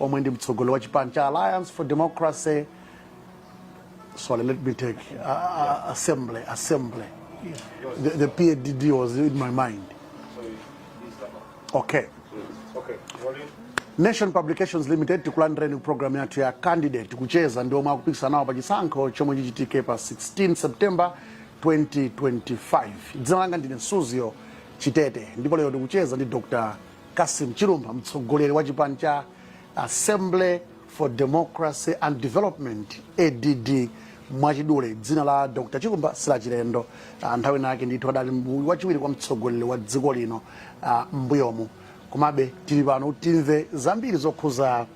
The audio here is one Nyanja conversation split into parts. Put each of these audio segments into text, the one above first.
omwe ndi mtsogoleri wa chipani cha alliance for democracy sorry let me take uh, uh, assembly assembly the, the padd was in my mind okay nation publications limited tikulandireni programu yathu ya candidate kucheza ndi omwe akupikisana nawo pa chisankho chomwe chichitike pa 16 september 2025 dzina langa ndine suzgo chitete ndipo lero tikucheza ndi dr Cassim Chilumpha mtsogoleri wa chipani cha Assembly for Democracy and Development ADD mwachidule dzina la Dr. Chilumpha silachilendo uh, nthawi nake ndithu adali wachiwiri kwa mtsogoleri wa dziko lino uh, mbuyomu komabe tili pano timve zambiri zokhuza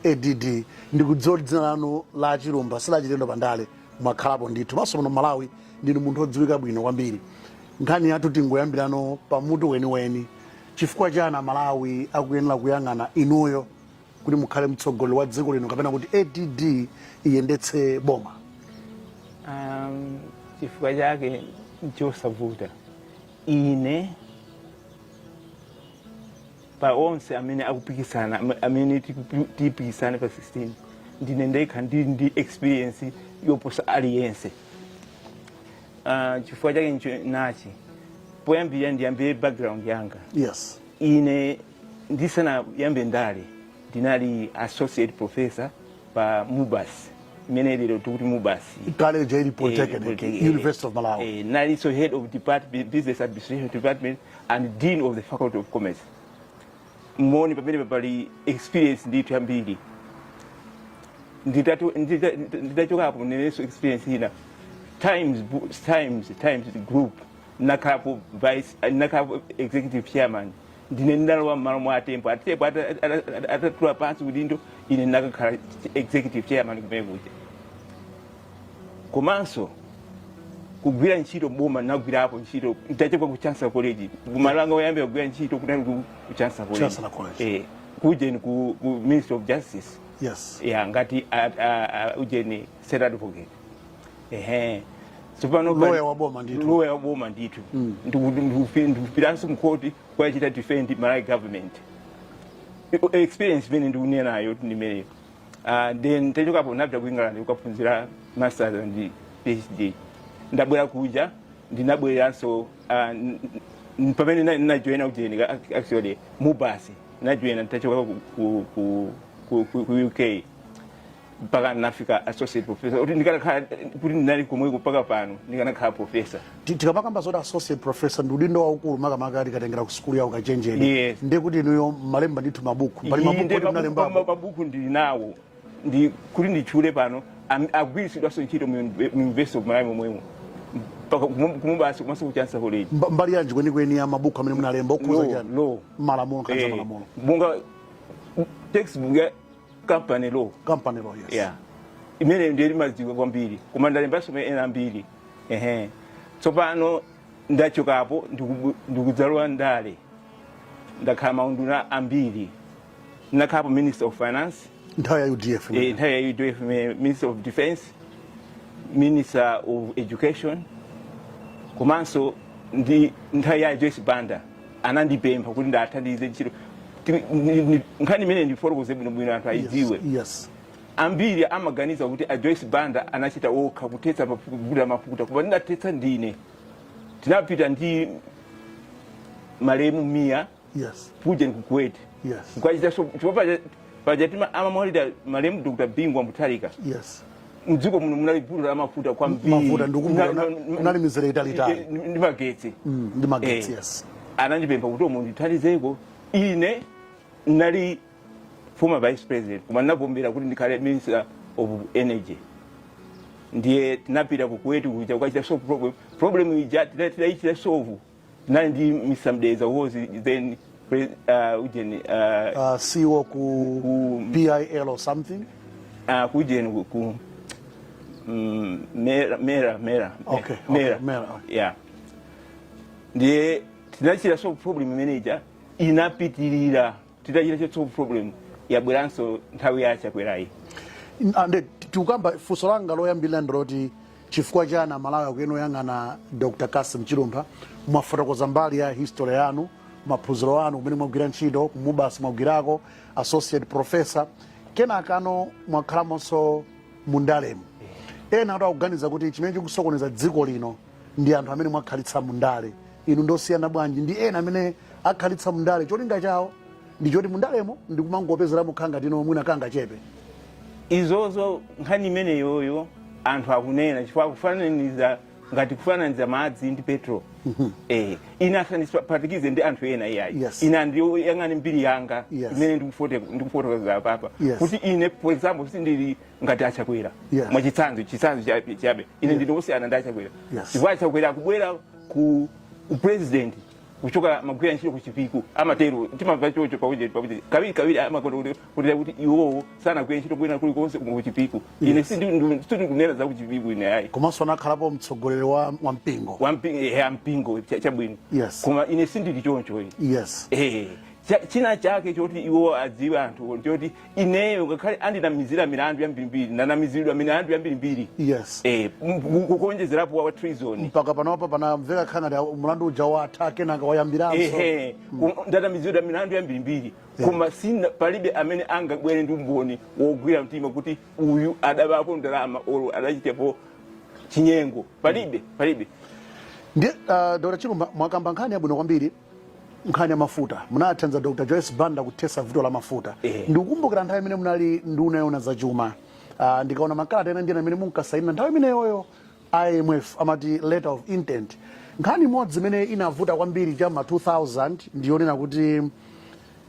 ADD ndikudziwa dzina lanu la Chilumpha silachilendo pandale mwakhalapo ndithu komanso muno Malawi ndinu munthu odziwika bwino kwambiri Nkhani yathu tingoyambilano pa mutu weniweni, chifukwa chani a Malawi akuyenela kuyang'ana inuyo kuti mukhale mtsogoleli wa dziko lino kapena kuti ADD iyendetse boma? Um, chifukwa chake nchosavuta ine pa onse amene akupikisana amene tipikisane pa 16 ndine ndekha ndili ndi experience yoposa aliyense Ah, chifukwa chake ncho nachi poyambira ndiyambire background yanga yes ine ndisanayambe ndale ndinali associate professor pa mubas imene lero tikuti mubas kale ija ili polytechnic Polytechnic, eh, university of malawi eh, ndinalinso head of department, business administration department and dean of the faculty of commerce moti pamenepa pali experience ndithu yambiri Nditatu- ndita- ndita- nditachokapo ndineso experience ina times bu- times times group nakhalapo vice nakhalapo executive chairman ndine ndinalowa mmalo mwa atembo atembo ata- ata- ata- atatula pansi udindo ine nakakhala executive chairman kumene kuja komanso kugwira ntchito m'boma nagwirapo ntchito ntachoka ku chancellor college kumalo anga oyamba kugwira ntchito kunali ku ku chancellor college Chancellor College. eh kujeni ku, ku ministry of justice yes ya ngati a- a- a- ujeni state advocate ehe tsopano pa- Lawyer wa boma ndithu. lawyer wa boma ndithu Ndiku- ndiku- ndikupitanso mkhoti kukachita defend malawi government I- experience imene ndikunenayo kuti ndimeneyo uh, then ntachokapo ndinapita ku england kukaphunzira masters and phd ndabwera kuja ndinabwereranso uh, n- n- pamene na- najoyina ujeni ac- actually mubas najoyina ntachoka ku, ku, ku, ku, ku, ku uk mpaka nafika associate professor kuti ndikanakhala kuti ndinali komweko mpaka pano ndikanakhala professor tikamakamba zoti associate professor ndi udindo waukulu makamaka tikatengera ku sukulu ya ukachenjede yes. ndi kuti inuyo malemba ndithu mabuku pali mabuku ndili nawo oti nditchule pano agwiritsidwanso ntchito mu university of malawi momwemo ku MUBAS komanso ku chancellor college mbali yanji kwenikweni ya mabuku amene munalemba okhuza chani law. malamulo makamaka eh, malamulo monga textbook ya company law company law yes yeah. imene ndimadziwa kwambiri koma ndalembanso ena ambiri ehe tsopano ndachokapo ndikubu- ndikudzalowa ndale ndakhala maunduna ambiri ndinakhalapo minister of finance nthawi ya udf eh, nthawi ya udf mi- minister of defense minister of education komanso ndi nthawi ya joyce banda anandipempha kuti ndikathandize ntchito Ti- ni- ni- nkhani imene ndifotokoze bwinobwino anthu ayidziwe yes ambiri amaganiza kuti a joyce banda anachita okha kuthetsa mafu- vuto la mafuta koma ndinathetsa ndine tinapita ndi malemu mia Yes. kuja ku Kuwait Yes. kukachita solve chifukwa paja- paja time amamwalira malemu dr bingu wa mutharika Yes. mdziko muno munali vuto la mafuta kwambiri. Mafuta ndikumbukira Mna- una- mna- munali mizere italitali. Eh, eh, ndi magetsi Mm, ndi magetsi, Eh, yes. anandipempha kuti mundithandizeko ine ndinali former vice president koma ndinavomera kuti ndikhale minister of energy ndiye tinapita ku Kuwait kuja kukachita solve problem problem ija tina- tinaichita solve tinali ndi mr mdeza was then pre- uh, ujeni uh, Uh, CEO ku ku- PIL or something. uh, kujeni ku- ku mm, mera mera mera Okay, okay, Mera, okay. yeah ndiye tinachita solve problem imene ija inapitirira titachichotsa problem yabweranso nthawi ya chakwera yi ande tikukamba funso langa loyambirira ndiloti chifukwa chani amalawi akuyenera kuyang'ana dr cassim chilumpha mwafotokoza mbali ya history yanu maphunziro anu kumene mwagwira ntchito ku MUBAS mwagwirako associate professor kenakano mwakhalamonso mundalemu ena anthu akuganiza kuti chimene chikusokoneza dziko lino ndi anthu amene mwakhalitsa mundale inu ndosiyana bwanji ndi ena amene akhalitsa mundale cholinga chawo ndi choti mundalemo ndikumangopezeramo kangati no mwina kangachepe izozo nkhani imeneyoyo anthu akunena chifukwa akufananiza ngati kufananiza madzi ndi petrol eh, ine asandiphatikize ndi anthu ena iyayi Yes. ine andiyang'ane mbiri yanga Yes. imene ndikufote- ndikufotokoza apapa Yes. kuti ine for example sindili ngati achakwera yes. mwachitsanzo chitsanzo chabe chabe ine ndine osiyana ndi achakwera yes. chifukwa achakwera akubwera ku upresident kuchoka amagwira ntchito kuchipiku amatero timamva chocho pakuti pakuti kawiri kawiri amakonda kuti kuti kuti iwowo sanagwira ntchito kwina kulikonse kuno kuchipiku ine sindikunena za kuchipiku ine ayi komanso anakhalapo mtsogoleri wa wa mpingo wa mpingo ya mpingo cha- chabwino Yes. koma ine sindili choncho ine yes eh china chake choti iwo adziwe anthu choti ineyo ngakhale andinamizira milandu yambirimbiri ndanamiziridwa milandu yambirimbiri yes eh, m- ku- ku- kuonjezerapo wa treason mpaka panopa pamamveka kukhala ngati mlandu uja watha kenaka wayambiranso ehe ku- ndanamizidwa milandu yambirimbiri koma sina palibe amene angabwere ndi umboni wogwira mtima kuti uyu adabapo ndalama olo adachitapo chinyengo palibe palibe ndiye uh, dr chilumpha mwakamba nkhani yabwino kwambiri nkhani ya mafuta munathandiza dr joyce banda kuthesa vuto la mafuta Ehe. ndikukumbukira nthawi imene munali nduna yona za chuma uh, ndikaona makalata ena ndinu amene munkasainira nthawi imeneyoyo imf amati letter of intent nkhani imodzi imene inavuta kwambiri cha ma 2000 ndiyonena kuti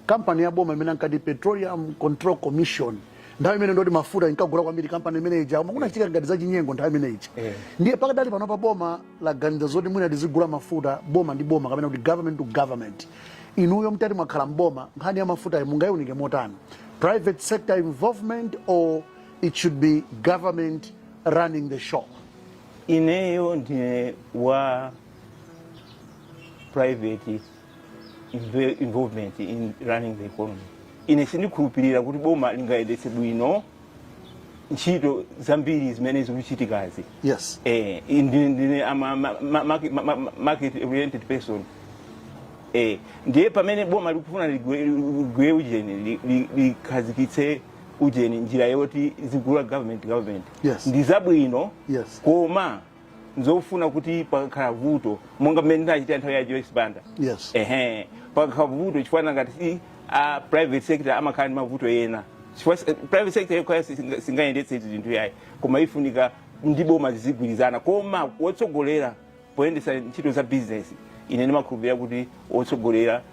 kampani ya boma imene ankati Petroleum Control Commission nthawi imene ndi yoti mafuta inkagula kwambiri kampani imene ija koma kunachitika ngati zachinyengo nthawi imene ija eh. ndiye pakadali panopa boma laganiza zoti mwina tizigula mafuta boma ndi boma kapena kuti government to government inuyo mtati mwakhala mboma nkhani ya mafutayo mungayiunike motani private sector involvement or it should be government running the show ineyo ndine wa private sector involvement in running the economy ine sindikhulupirira kuti boma lingayendetse bwino ntchito zambiri zimene zikuchitikazi yes eh, ndine ndine a ma- ma- ma- market- ma- ma- market oriented person eh, ndiye pamene boma likufuna ligwe ligwe ujeni li- li- likhazikitse ujeni njira yoti lizigula government government Yes. ndizabwino yes koma nzofuna kuti pakakhala vuto monga mmene ndinachitira nthawi ya joyce banda yes ehe pakakhala vuto chifukwa nangati si a private sector amakhala ndi mavuto ena chifukwa si- private sector yokhayo singa- singayendetse izi zinthu yayi koma ifunika ndi boma zizigwirizana koma wotsogolera poyendetsa ntchito za business ine ndimakhulupirira kuti wotsogolera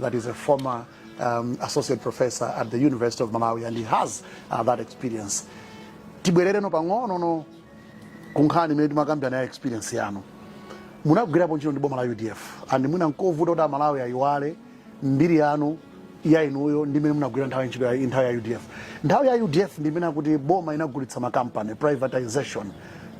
that is a former um, associate professor at the University of Malawi and he has uh, that experience. Tibwerere pang'ono kunkhani imene timakambirana ya experience yanu munagwirapo ntchito ndi boma la UDF and mwina nkovuta kuti amalawi ayiwale mbiri yanu ya inuyo ndi imene munagwira nthawi ntchito ya nthawi ya UDF. Nthawi ya UDF ndi imene akuti boma linagulitsa makampani privatization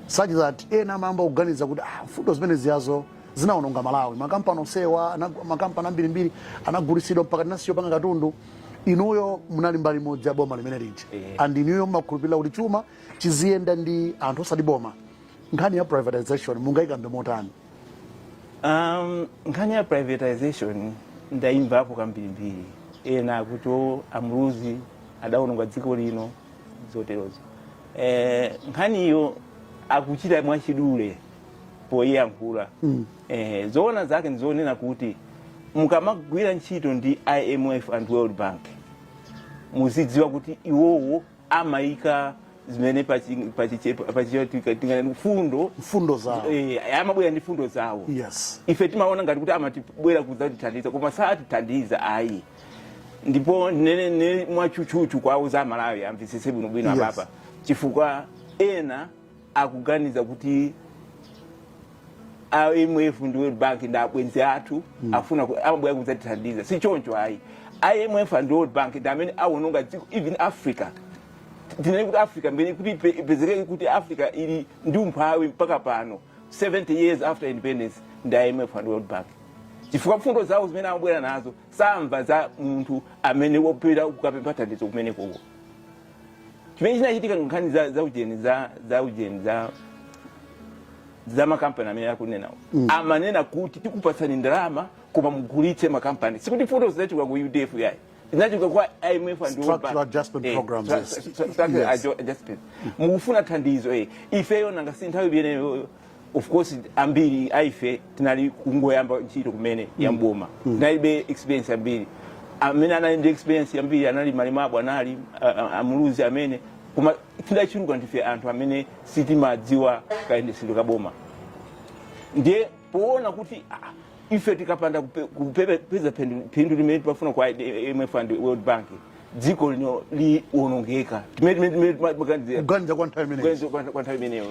such that ena amayamba kuganiza kuti ah, mfundo zimene zijazo zinaononga Malawi. Makampani onsewa, makampani ambirimbiri anagulisidwa mpaka tinasiya kupanga katundu inuyo munali mbali imodzi ya boma limene lija eh. and inuyo mmakhulupirira kuti chuma chiziyenda ndi anthu osati boma nkhani ya privatization mungayikambe motani um, nkhani ya privatization ndayimvapo kambirimbiri ena akuti a Muluzi adaononga dziko lino zoterozo eh, nkhaniyo akuchita mwachidule poyankhula mm. eh, zoona zake ndizonena kuti mukamagwira ntchito ndi imf and world bank muzidziwa kuti iwowo amayika zimene fundo mfundo zawo eh, amabwera ndi fundo zawo yes. ife timaona ngati kuti amatibwera kudzatithandiza koma satithandiza ayi ndipo ndinene mwatchutchutchu kwa onse Amalawi amvetsetse bwinobwino yes. apapa chifukwa ena akuganiza kuti a IMF ndi World Bank ndi abwenzi athu mm. afuna amabwera kudzatithandiza si choncho ayi IMF and World Bank ndamene awononga dziko even Africa tinene kuti Africa mbene kuti ipezekeke kuti Africa ili ndi umphawi mpaka pano 70 years after independence ndi IMF and World Bank chifukwa mfundo zawo zimene amabwera nazo samva za munthu amene wapita kukapempha thandizo kumenekoko chimene chinachitika nkhani za za ujeni za za ujeni za za makampani amene akunena mm. amanena kuti tikupatsani ndalama koma mugulitse makampani sikuti mfundo zinachoka ku udf yayi zinachoka kwa imf and World Bank. Structural adjustment Eh, programs, stra- yes. stra- structural Yes. adjo- adjustment mukufuna thandizo eh ifeyo nanga si nthawi imeneyo of course ambiri aife tinali kungoyamba ntchito kumene ya mboma tinalibe experience yambiri amene anali ndi experience yambiri anali mwinamwake anali a- a- a Muluzi amene koma tidachuluka ndife anthu amene sitimadziwa kayendetsedwe ka boma ndiye poona kuti ah, ife tikapanda kupe- kupepe- kupeza phindu- phindu limene timafuna kwa imf and world bank dziko lino liwonongeka Timene- timene- timene timaganizira. kuganiza kwa nthawi imeneyi Kuganiza kwa- kwa nthawi imeneyo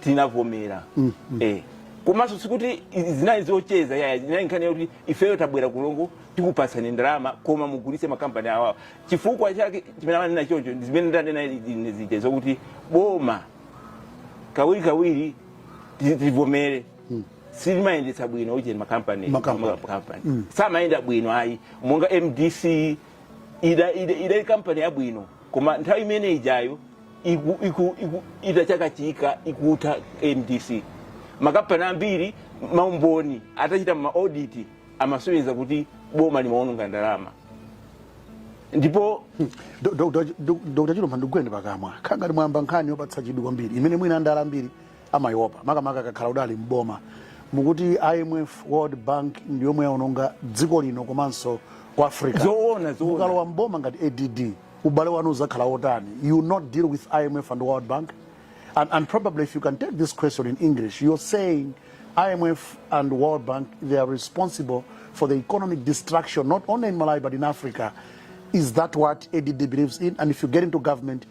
tinavomera mm, mm. eh komanso sikuti zinali zocheza yaya zinali nkhani yakuti ifeyo tabwera kulongo tikupatsani ndalama koma mugulitse makampani awawa chifukwa chake chimene amanena choncho nzimene ndanena ine zija zokuti boma kawirikawiri tivomere mm. silimayendetsa bwino ujeni makampani makampani mm. samayenda bwino ayi monga mdc ida ida idali kampani yabwino koma nthawi imene ijayo iku, iku, iku, itachakachika ikutha mdc makampani ambiri maumboni atachita ma audit amasonyeza kuti boma limaononga ndalama ndipo Do- Dr. Ju- Do- Dr. Chilumpha ndikugwireni pakamwa nanga si mwayamba nkhani yopatsa chidwi kwambiri imene mwina andala ambiri amaiopa makamaka akakhala kuti ali m'boma mukuti imf world bank ndi yomwe yaononga dziko lino komanso ku africa Zoona, zoona. mukalowa m'boma ngati add ubale wanu udzakhala wotani you will not deal with imf and world bank and, and probably if you can take this question in english you're saying imf and world bank they are responsible for the economic destruction not only in malawi but in africa is that what add believes in and if you get into government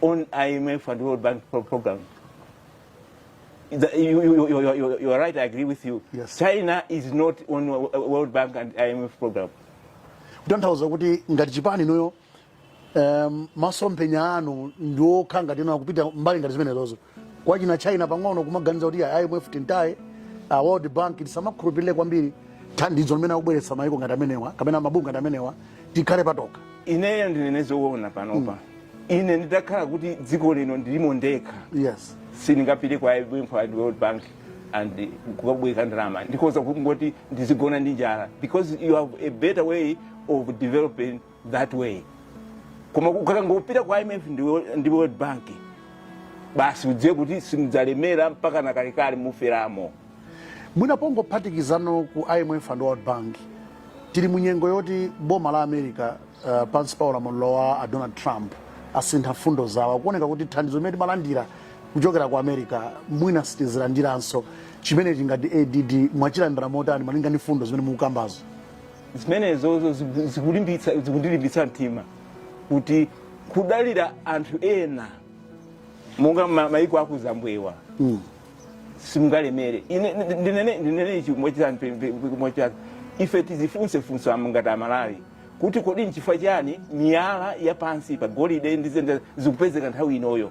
on IMF and World Bank pro program. The, you, you, you, you, you are right, I agree with you. Yes. China is not on World Bank and IMF program. kutanthauza kuti ngati chipani inuyo um, masomphenya anu ndi okhala ngati akupita mbali ngati zimenezozo kwa china china pang'ono kumaganiza kuti a imf tiwataye a world bank tisamakhulupirire kwambiri thandizo limene akubweretsa mayiko ngati amenewa kapena mabungwe ngati amenewa tikhale patokha ineyo ndinene zoona panopa ine nditakhala kuti dziko lino ndilimo ndekha yes sindingapite kwa imf and world bank and kukabwereka ndalama ndikhoza kungoti ndizigona ndi njala because you have a better way of developing that way koma ukangopita kwa imf ndi wo- ndi world bank basi udziwe kuti simudzalemera mpaka nakalekale muferamo mwina pongophatikizapo ku imf and world bank tili mu nyengo yoti boma la america uh, pansi pa ulamuliro wa a donald trump asintha mfundo zawo kuoneka kuti thandizo limene timalandira kuchokera ku america mwina sitizilandiranso chimenechi ngati add mwachilandira motani malinga ndi mfundo zimene mukukambazo zimenezozo ziku- zikulimbitsa- zikundilimbitsa mtima kuti kudalira anthu ena monga ma- maiko akuzambwewa Mm. simungalemere Ine- ndi- ndinene ndinene ichi mochitani pe- pe- pe- mochitani ife tizifunse funso ngati amalawi kuti kodi nchifukwa chani miyala ya pansi pa golide ndi zinthu zikupezeka nthawi inoyo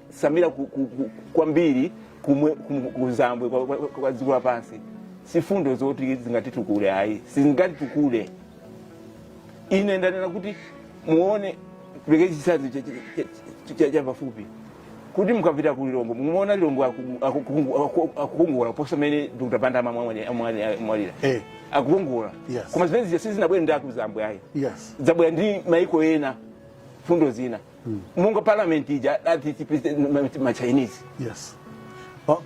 samira ku- ku- ku- kwambiri kumwe- kum- kuzambwe kwa- kwa kwa dziko lapansi sifundo zoti zingatitukule ayi sizingatitukule ine ndanena kuti muone pereke chitsanzo cha- cha- cha- cha- cha pafupi kuti mukapita ku lilongwe mumaona lilongwe aku- aku- aku- akukongola kuposa mmene dr banda amwalira Eh. akukongola Yes. koma zimene zija sizinabwere ndi akuzambwe ayi yes zabwera ndi maiko ena fundo zina mm. monga parliament ija ati president ma chinese yes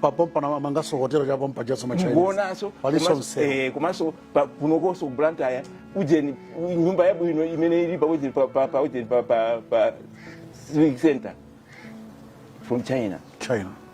papompa na mangaso hotelo cha pompa jaso ma chinese ngonaso paliso mse eh kumaso kunokoso blantyre ujeni nyumba ya bwino imene ili pa ujeni pa pa pa ujeni pa pa pa civic center from china china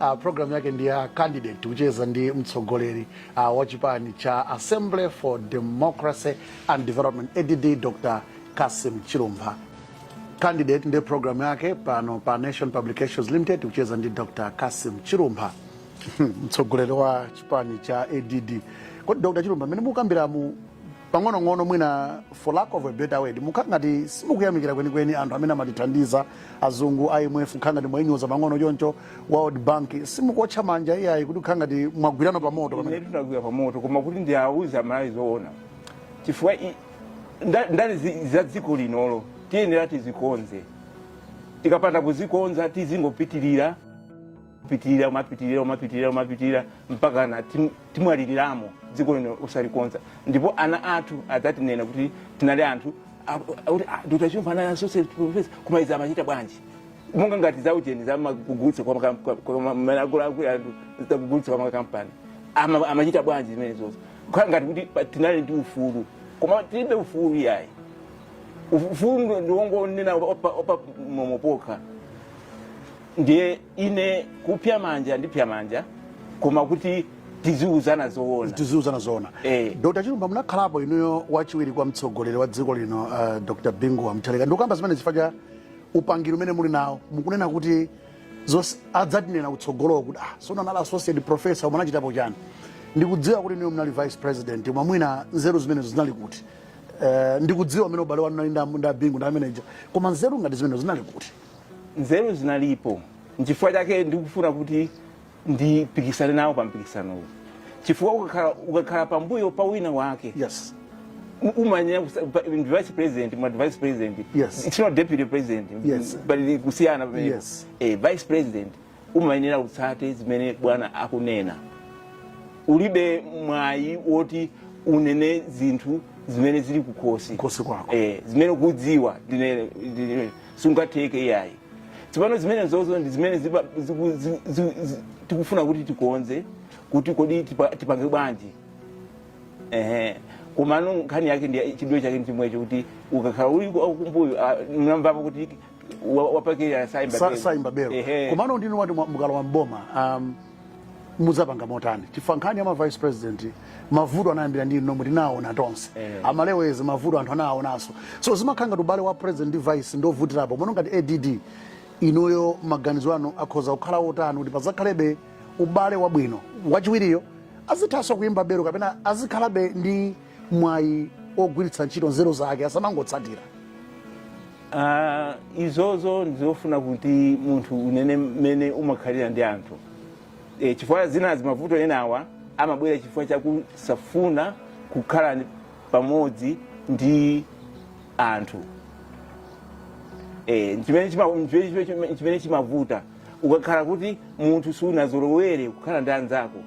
Uh, programu yake ndi ya candidate tikucheza ndi mtsogoleri uh, wa chipani cha Assembly for Democracy and Development ADD Dr. Cassim Chilumpha. Candidate ndi programu yake pano pa Nation Publications Limited kucheza ndi Dr. Cassim Chilumpha mtsogoleri wa chipani cha ADD. Kodi Dr. Chilumpha, mmene mukambiramu pang'onong'ono mwina for lack of a better word mukhala ngati simukuyamikira kwenikweni anthu amene amatithandiza azungu imf mukhala ngati mwayinyoza pang'ono choncho world bank simukuotcha manja iyayi kuti mukhala ngati mwagwirana pa moto pamene inetu ndagwira pa moto koma kuti ndiwauze amalawi zoona chifukwa i- nda- ndale zi- za dziko linoli tiyenera tizikonze tikapanda kuzikonza tizingopitirira kupitirira kumapitirira kumapitirira kumapitirira mpaka na tim- timwaliliramo dziko lino osalikonza ndipo ana athu adzatinena kuti tinali anthu a- a- kuti "Ah, dr chilumpha anali associate professor koma izi amachita bwanji monga ngati zaujeni zamakugulitsa kwa makam- kwa- kwa ma- ma- akulu- akulu anthu zakugulitsa kwa makampani Ama- amachita bwanji zimenezozo kukhala ngati kuti pa- tinali ndi ufulu koma tilibe ufulu yayi ufulu ndiwongonena opa opa momopokha ndiye ine kupya manja ndipya manja koma kuti tiziuzana zoona tiziuzana zoona eh. dr chilumpha munakhalapo inuyo wachiwiri kwa mtsogoleri wa dziko lino uh, dr bingu wa mutharika ndikukamba zimenezi chifukwa cha upangiri umene muli nawo mukunena kuti zonse adzatinena kutsogoloko kuti ah, so munali associate professor munachitapo chani ndikudziwa kuti inuyo munali vice president koma mwina nzeru zimenezo zinali kuti uh, ndikudziwa mmene ubale wanu unalili ndi a bingu ndi ameneja koma nzeru ngati zimenezo zinali kuti nzeru zinalipo nchifukwa chake ndikufuna kuti ndipikisane nawo pa mpikisanowu chifukwa ukakhala, ukakhala pambuyo pa wina wake yes u- umanyanya kusa- pa- ndi vice president ma vice president Yes. it's not deputy president Yes. but ndi kusiyana pamene Yes. eh, vice president umayenera utsate zimene bwana akunena ulibe mwayi woti unene zinthu zimene zili kukhosi Kukhosi kwako. eh, zimene ukudziwa ndinene ndinene. singatheke iyayi tsopano zimenezozo ndi zimene zipa- ziku- zi- zi- zi- tikufuna kuti tikonze kuti kodi tipa- tipange bwanji ehe komano nkhani yake ndi chidwe chake ndichimwecho kuti ukakhala uli ku- kumbuyo ah, munamvapo kuti wa- wapakira saimba Sa- belo. saimba belo Ehe. komano ndiye inu ngati mwa- mukalowa mboma um, mudzapanga motani chifukwa nkhani ya ma vice president mavuto anayambira ndi inu nomwe tinaona tonse Eh. amalewezi mavuto anthu anawaonanso so zimakhala ngati ubale wa president ndi vice ndi ovutirapo ndiyeno ngati add inuyo maganizo anu akhoza kukhala otani kuti pazakhalebe ubale wabwino wachiwiriyo azithanso kuyimba belo kapena azikhalabe ndi mwayi ogwiritsa ntchito nzeru zake asamangotsatira Ah, izozo ndizofuna kuti munthu unene mmene umakhalira ndi anthu e, chifukwa zinazi mavuto enawa amabwera chifukwa chakusafuna kukhala ndi- pamodzi ndi anthu e, chimene chima- chimene- chimene- chimene chimavuta ukakhala kuti munthu suunazolowere kukhala ndi anzako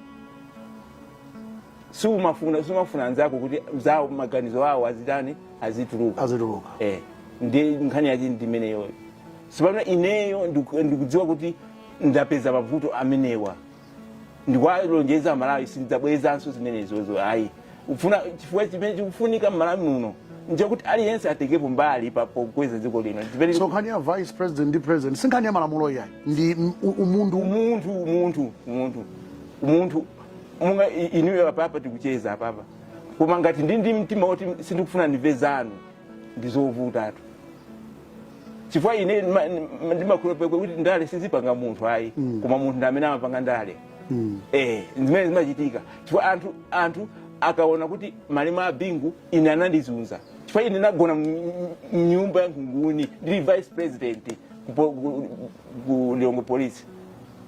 siumafuna sumafuna anzako kuti zawo maganizo awo azitani azituluka azituluka eh ndi nkhani yake ndi imeneyo tsopano ineyo ndiku- ndikudziwa kuti ndapeza mavuto amenewa ndikuwalonjeza amalawi sindidzabwerezanso zimenezozo ayi ufuna chifukwa chimene chikufunika mmalawi muno nchakuti aliyense atengepo mbali pa pokweza dziko lino Chimene- so nkhani ya vice president ndi president si nkhani ya malamulo iyayi ndi m- u- umunthu umunthu umunthu umunthu umunthu monga i- inuyo apapa tikucheza apapa koma ngati ndi ndi mtima woti sindikufuna ndimve zanu ndi zovutatu chifukwa ine ndima- ndima- ndimakhulupirira kuti ndale sizipanga munthu ayi koma munthu ndi amene amapanga ndale eh zimene zimachitika chifukwa anthu anthu akaona kuti malemu a bingu ine anandizunza chifukwa ine ndinagona mnyumba ya nkhunguni ndili vice president ku po- ku- ku lilongwe police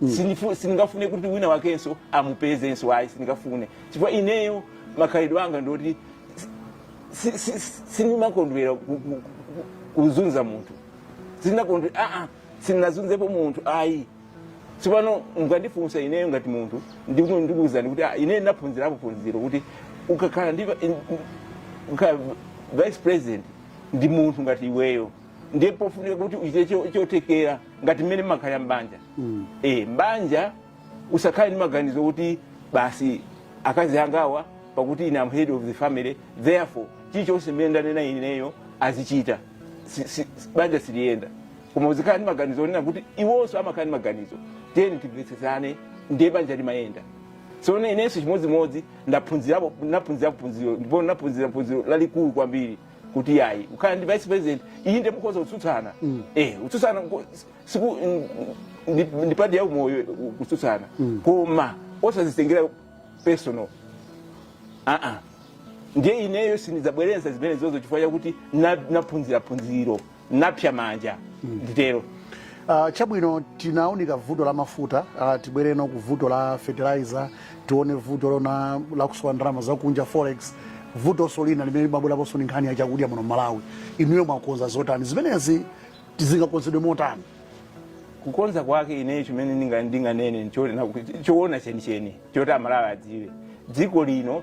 mm. Sinifu, siningafune kuti wina wakenso amupezenso ayi siningafune chifukwa ineyo makhalidwe anga ndoti sindimakondwera kuzunza munthu sininakondwera aa ah, ah, sininazunzepo munthu ayi tsopano mukandifunsa ineyo ngati munthu ndikuuzani kuti ah, ineyo ndinaphunzirapo phunziro kuti ukakhala ndi vice president ndi munthu ngati iweyo ndiye pofunika kuti uchite cho- chothekera ngati mmene mmakhalira m'banja Mm. eh m'banja usakhale ndi maganizo kuti basi akazi angawa pakuti ine I'm head of the family therefore chilichonse mmene ndanena ineyo azichita Si- si- si- banja siliyenda koma uzikhala ndi maganizo onena kuti iwonso amakhala ndi maganizo tiyeni timvetsetsane ndiye banja limayenda so ne- inenso chimodzimodzi ndaphunzirapo ndaphunzirapo phunziro ndipo ndaphunzira phunziro lalikulu kwambiri kuti ayi kukhala ndi vice president inde mukhoza kutsutsana mm. eh kutsutsana siku ndi part ya umoyo kutsutsana mm. koma osazitengera personal ah ah ndiye ineyo sinizabwereza zimenezozo chifukwa chakuti naphunzira phunziro napsya manja nditero Uh, chabwino tinaunika vuto la mafuta uh, tibwereno ku vuto la fertilizer tiona vuto lonena la kusowa ndalama zakunja forex vutonso lina limene limabweraponso ni nkhani ya chakudya muno malawi inuyo mwakonza zotani zimenezi kuti zingakonzedwe motani kukonza kwake ineyo chimene ndinga- ndinganene nchoti nakuti- choona chenicheni choti amalawi adziwe dziko lino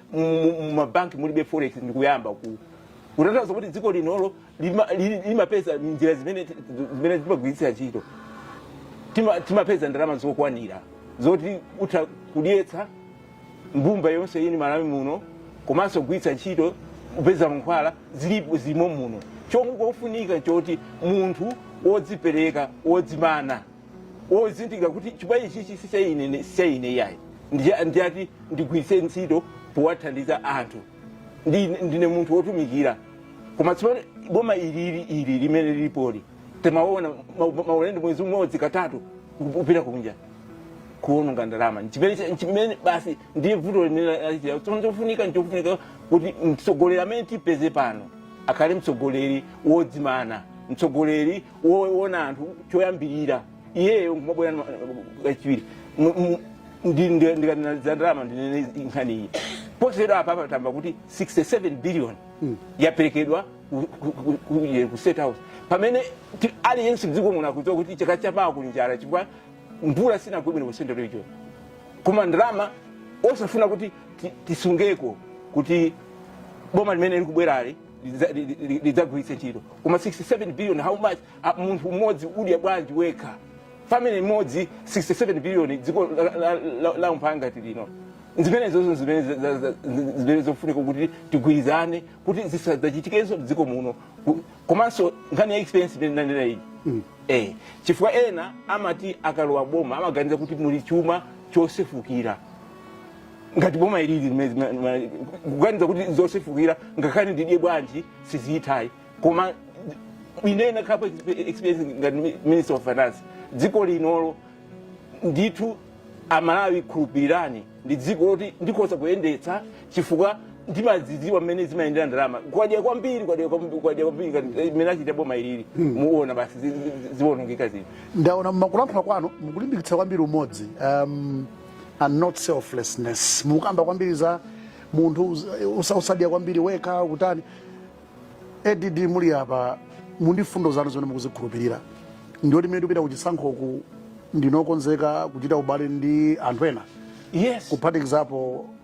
mumabanki mulibe forex ndikuyamba ku kutanthauza kuti dziko linolo lima- lili- limapeza njira zimene zimene timagwiritsira ntchito Tima- timapeza ndalama zokwanira zoti utha kudyetsa mbumba yonse ino mmalawi muno komanso kugwiritsa ntchito kupeza mankhwala zilipo zilimo muno chomwe chofunika choti munthu wodzipereka wodzimana wozindikira kuti chuma ichichi si cha ine ni- si cha ine iyayi Ndi- ndiyoti ndigwiritse ntchito powathandiza anthu Ndi- ndine munthu wotumikira koma tsopano boma ilili ili limene lilipoli timaona ma- ma- maulendo mwezi umodzi katatu kupita kunja kuononga ndalama nchimene cha- nchimene basi ndiye vuto limene lachitira tsono chofunika nchofunika kuti mtsogoleri amene tipeze pano akhale mtsogoleri wodzimana mtsogoleri woona anthu choyambirira iyeyo ngumabwera nwa- kachiwiri Mu- mu- ndi- ndi- ndikanena za ndalama ndinene nkhani iyi posachedwa apa patamva kuti 67 billion yaperekedwa ku- ku- ku- ku- ku state house pamene ti- aliyense mdziko muno akudziwa kuti chaka chapachi kuli njala chifukwa mvula sinagwe bwino ku central region koma ndalama osafuna kuti ti- tisungeko kuti boma limene likubwerali lidza- li- li- lidzagwiritse ntchito koma 67 billion how much Ah, munthu mmodzi udya bwanji wekha family imodzi 67 billion dziko la- la- la- la umphawi ngati lino zimenezozo zimene za- za- za- zimene zofunika kuti tigwirizane kuti zisadzachitikenso m'dziko muno Ku- komanso nkhani ya experience imene ndanena iyi eh chifukwa ena amati akalowa boma amaganiza kuti muli chuma chosefukira ngati boma ilili limene zima- ma- kuganiza kuti zosefukira ngakhale ndidye bwanji sizithayi koma ine nakhalapo experience ngati mi- minister of finance dziko linolo ndithu amalawi khulupirirani ndi dziko loti ndikhoza kuyendetsa chifukwa ndimadzidziwa mmene zimayendera ndalama kwadya kwambiri kwadya kwambi- kwadya kwambiri ngati- eh, mmene achita boma ilili muona basi zi- zi- zi- ziwonongeka zinthu ndaona mmakulankhula kwanu mukulimbikitsa kwambiri umodzi um, and not selflessness mukamba kwambiri za munthu usa- usadya kwambiri wekha kutani ADD muli apa mu mfundo zanu zimene mukuzikhulupirira ndiyoti mmene tipita kuchisankhoku ndinu okonzeka kuchita ubale ndi anthu ena yes kuphatikizapo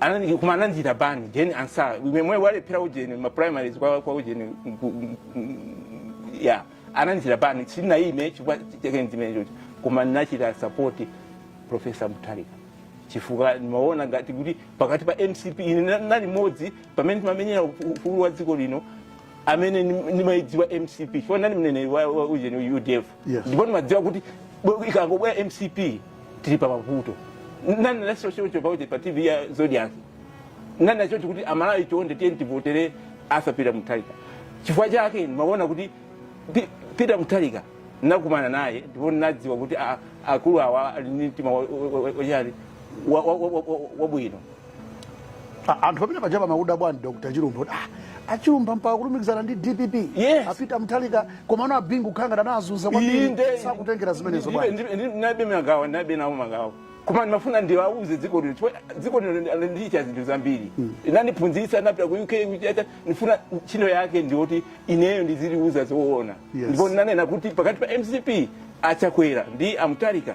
anani koma anandichita ban ujeni ati nanunso mwemwe walephera ujeni ma primaries kwa kwa ujeni nku- nku- nku- ya anandichita ban sinaime chifukwa chake nchimenecho koma nachita support professor Mutharika chifukwa ndimaona ngati kuti pakati pa mcp ine na- nali mmodzi pamene timamenyera ufu- ufulu wa dziko lino amene nim- nimaidziwa mcp chifukwa nali mneneri wa wa ujeni udf Yes. ndipo nimadziwa kuti bwe- ikangobwera mcp tili pa mavuto nanenanso choncho paja pa tv ya zodiak nanena choncho kuti amalawi chonde tiyeni tivotere Arthur peter mutharika chifukwa chake ndimaona kuti Pi- peter mutharika nakumana naye ndipo nadziwa kuti a- akulu awa ali ndi mtima wa- wa- wa- wa- wachani wa- wa- wa- wa- wa- wabwino A- anthu pamene pajapa mmakuda bwani dr chilumpha kuti, ah, achilumpha mpaka kulumikizana ndi dpp Yes. apita mutharika komano abingu kukhala ngati anakuzunzani kwambiri Inde. sakutengera zimenezo bwani ndilibe mangawa ndilibe nawo mangawa koma ndimafuna ndiwauze dziko lino chifukwa dziko lino ndi- landichitira zinthu zambiri linandiphunzitsa napita ku uk kuchita ndifuna ntchito yake ndioti ineyo ndiziliuza zoona Yes. ndipo ndinanena kuti pakati pa mcp achakwera ndi amutharika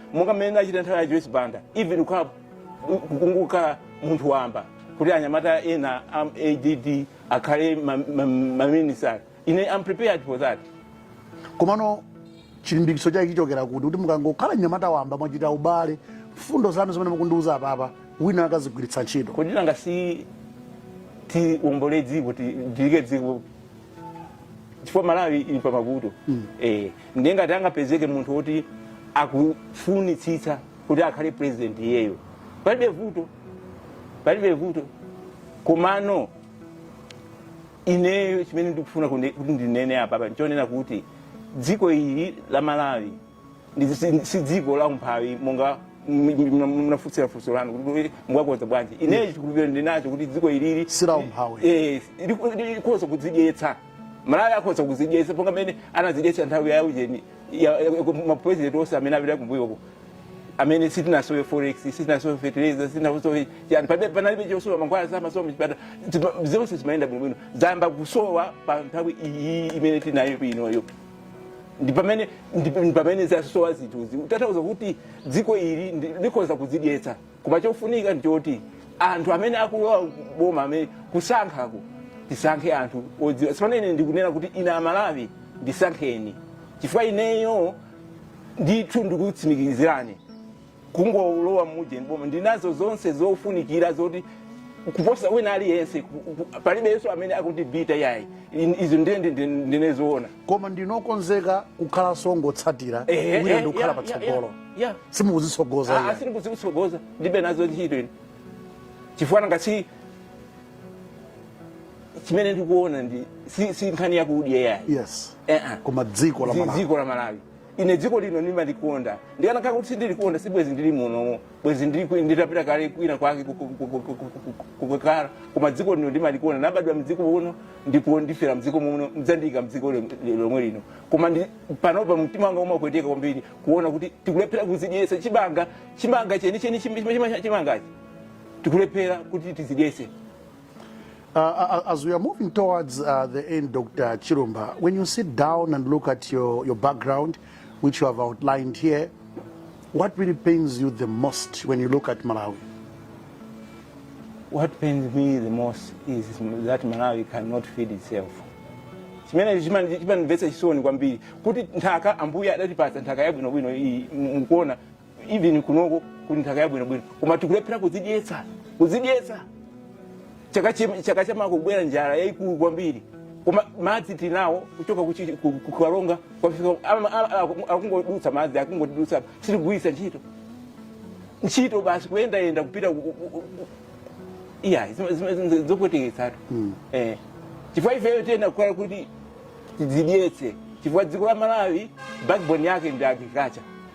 monga mmene ndachita nthawi ya joyce banda even kukhala kukhala munthu wamba kuti anyamata ena a add akhale maminisitala ine am prepared for that komano chilimbikitso chake chikuchokera kuti kuti mukangokhala mnyamata wamba mwachita ubale mfundo zanu zimene mukundiuza apapa wina akazigwiritsa ntchito kodi nanga si tiwombole dziko ti- tilikhe dziko chifukwa malawi ili pa mavuto mm. eh, ndiye ngati angapezeke munthu woti akufunitsitsa kuti akhale president iyeyo palibe vuto palibe vuto komano ineyo chimene ndikufuna kundi- kuti ndinene apa apa nchonena kuti dziko ili la malawi Ndi- si- si dziko la umphawi monga m- m- mna- mnafunsira funso lanu kuti mwakonza bwanji ineyo chikhulupiriro ndinacho kuti dziko ilili Si la umphawi. Eh, liku- likhoza kudzidyetsa malawi akhoza kudzidyetsa monga mmene anadzidyetsa nthawi ya ujeni ya- ya- mapurezidenti onse amene apita kumbuyoko amene sitinasowe forex sitinasowe fertilizer sitinasowe chani pamene panalibe chosowa mankhwala samasowa mchipata zonse zimayenda bwinobwino zayamba kusowa pa nthawi iyi imene tinayo inoyo ndi pamene ndi ndi pamene zasowa zinthuzi kutanthauza kuti dziko ili ndi- likhoza kudzidyetsa koma chofunika ndichoti anthu amene akulowa boma amene kusankhako tisankhe anthu odziwa tsopano ine ndikunena kuti ine amalawi ndisankheni chifukwa ineyo ndithu ndikutsimikizirani kungolowa mujeni mboma ndinazo zonse zofunikira zoti kuposa wina aliyense ku- ku- palibenso amene akundibita yayi In- izo ndiye ndi- ndi- ndinene zoona koma ndinokonzeka kukhala chongotsatira Ehe, wina ehe, ndikukhala ya, pa ya, tsogolo ya, ya. simukuzitsogoza Ah, ayi. sindikuzitsogoza ndibe nazo ntchito ine chifukwa nanga si chimene ndikuona ndi si, si nkhani yakudya yayi yes Eh, ah. koma dziko la Dzi- malawi dziko la malawi ine dziko lino ndimalikonda ndikanakhala kuti sindilikonda sibwezi ndili muno bwezi ndili- nditapita kale kwina kwake ku- ku- ku- ku- ku- ku- ku- kukakhala koma dziko lino ndimalikonda ndabadwa mdziko muno ndipo ndifera mdziko muno mdzandiyika mdziko lom- lomwe lino koma ndi- panopa mtima wanga umapweteka kwambiri kuona kuti tikulephera kuzidyesa chimanga chimanga chenicheni chimangachi tikulephera kuti tizidyese Uh, uh, uh, as we are moving towards uh, the end, Dr. Chirumba, when you sit down and look at your, your background, which you have outlined here, what really pains you the most when you look at Malawi? What pains me the most is that Malawi cannot feed itself. chimene chimanimvetsa chisoni kwambiri kuti nthaka ambuye adatipatsa nthaka yabwinobwino iyi mukuona even kunoko kuli nthaka yabwinobwino koma tikulephera kuzidyetsa kuzidyetsa chaka chi- chaka chamawa kubwera njala yayikulu kwambiri koma madzi tinawo kuchoka kuchi- ku- ku- kukalonga kwafika ama- ama- aku- akungodutsa madzi akungotidutsa sitigwiritsa ntchito ntchito basi kuyendayenda kupita ku- ku- ku- ku- iya zima- zima- zima- zopweteketsatu Eh. chifukwa ifeyo tiyenera kukhala kuti tidzidyetse chifukwa dziko la malawi backbone yake ndi agriculture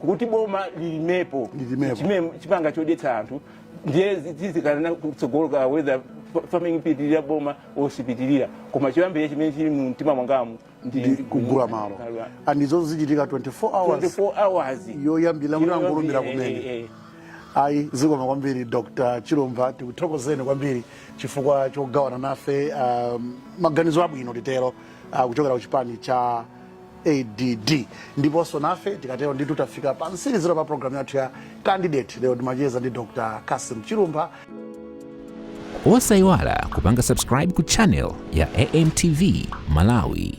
kuti boma lilimepo Lilimepo. chime- chimanga chodyetsa anthu ndiye tizikaona kutsogoloko whether fa- farming ipitirira boma osipitirira koma choyambirira chimene chili mu mtima mwangamu ndi ndi kugula malo Malo. and izozo zichitika 24 hours 24 hours yoyambira kuti angolumbira kumene Eh, eh, eh. ayi zikomo kwambiri dr chilumpha tikuthokozeni kwambiri chifukwa chogawana nafe um, maganizo abwino titero uh, kuchokera ku chipani cha add ndiponso nafe tikatero nditu tafika pa mtsirizo pa programu yathu ya candidate lero timacheza ndi dr cassim chilumpha osayiwala kupanga subscribe ku channel ya amtv malawi